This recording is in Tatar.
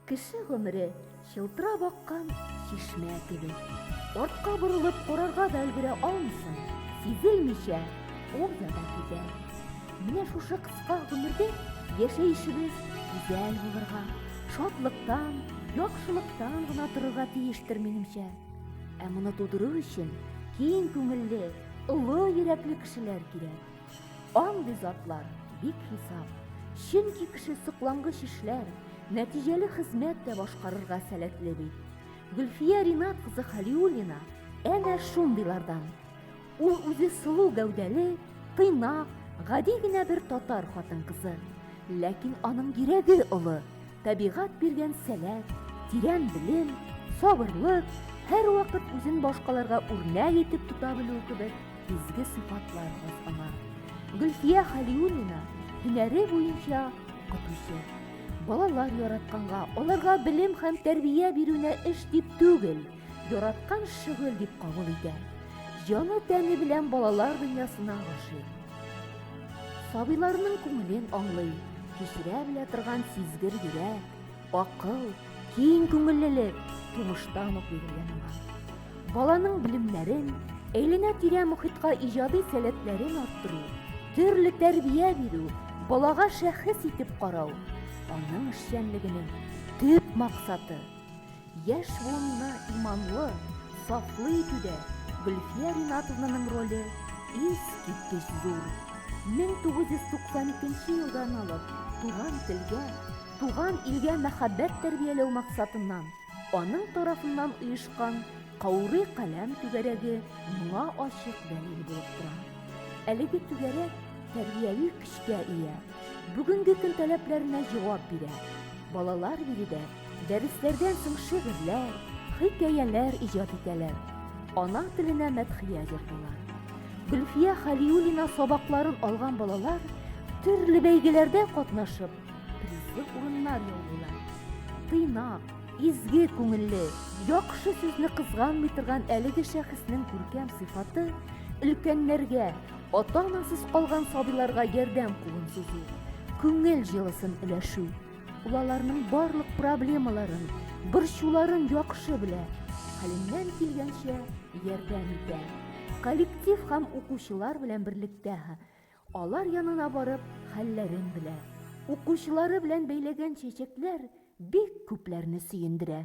Кеше гомере чылтырап аккан чишмә кебек. Артка борылып карарга да өлгерә алмыйсың, сизелмичә ул яда китә. Менә шушы кыска гомердә яшәешебез гүзәл булырга, шатлыктан, яхшылыктан гына торырга тиештер минемчә. Ә моны тудыру өчен киң күңелле, олы йөрәкле кешеләр кирәк. Андый затлар бик хисап. Чөнки кеше соклангыч эшләр, нәтиҗәле хезмәт тә башкарырга сәләтле бит. Гөлфия Ринат кызы Халиуллина әнә шундыйлардан. Ул үзе сылу гәүдәле, тыйнак, гади генә бер татар хатын-кызы. Ләкин аның йөрәге олы, Табигать биргән сәләт, тирән белем, сабырлык, һәрвакыт үзен башкаларга үрнәк итеп тота белү кебек изге сыйфатлар бар аңа. Гөлфия Халиуллина һөнәре буенча укытучы. Балалар яратканга, аларга белем һәм тәрбия бирүне эш дип түгел, Яраткан шөгыль дип кабул итә. Җаны-тәне белән балалар дөньясына гашыйк. Сабыйларның күңелен аңлый, кичерә белә торган сизгер йөрәк, акыл, киң күңеллелек тумыштан ук бирелгән аңа. Баланың белемнәрен, әйләнә-тирә мөхиткә иҗади сәләтләрен арттыру, төрле тәрбия бирү, балага шәхес итеп карау аның эшчәнлегенең төп максаты. Яшь буынны иманлы, сафлы итүдә Гөлфия Ринатовнаның роле искиткеч зур. 1992 елдан алып туган телгә, туган илгә мәхәббәт тәрбияләү максатыннан аның тарафыннан оешкан Каурый каләм түгәрәге моңа ачык дәлил булып тора. Әлеге түгәрәк тәрбияви көчкә ия, бүгенге көн таләпләренә җавап бирә. Балалар биредә Дәресләрдән соң шигырьләр, хикәяләр иҗат итәләр. Ана теленә мәдхия җырлыйлар. Гөлфия Халиуллина сабакларын алган балалар төрле бәйгеләрдә катнашып, призлы урыннар яулыйлар. Тыйнак, изге күңелле, яхшы сүзне кызганмый торган әлеге шәхеснең күркәм сыйфаты өлкәннәргә, ата-анасыз калган сабыйларга ярдәм кулын сузу, күңел җылысын өләшү. Ул аларның барлык проблемаларын, борчуларын яхшы белә, хәленнән килгәнчә ярдәм итә. Коллектив һәм укучылар белән берлектә алар янына барып хәлләрен белә. Укучылары белән бәйләгән чәчәкләр бик күпләрне сөендерә.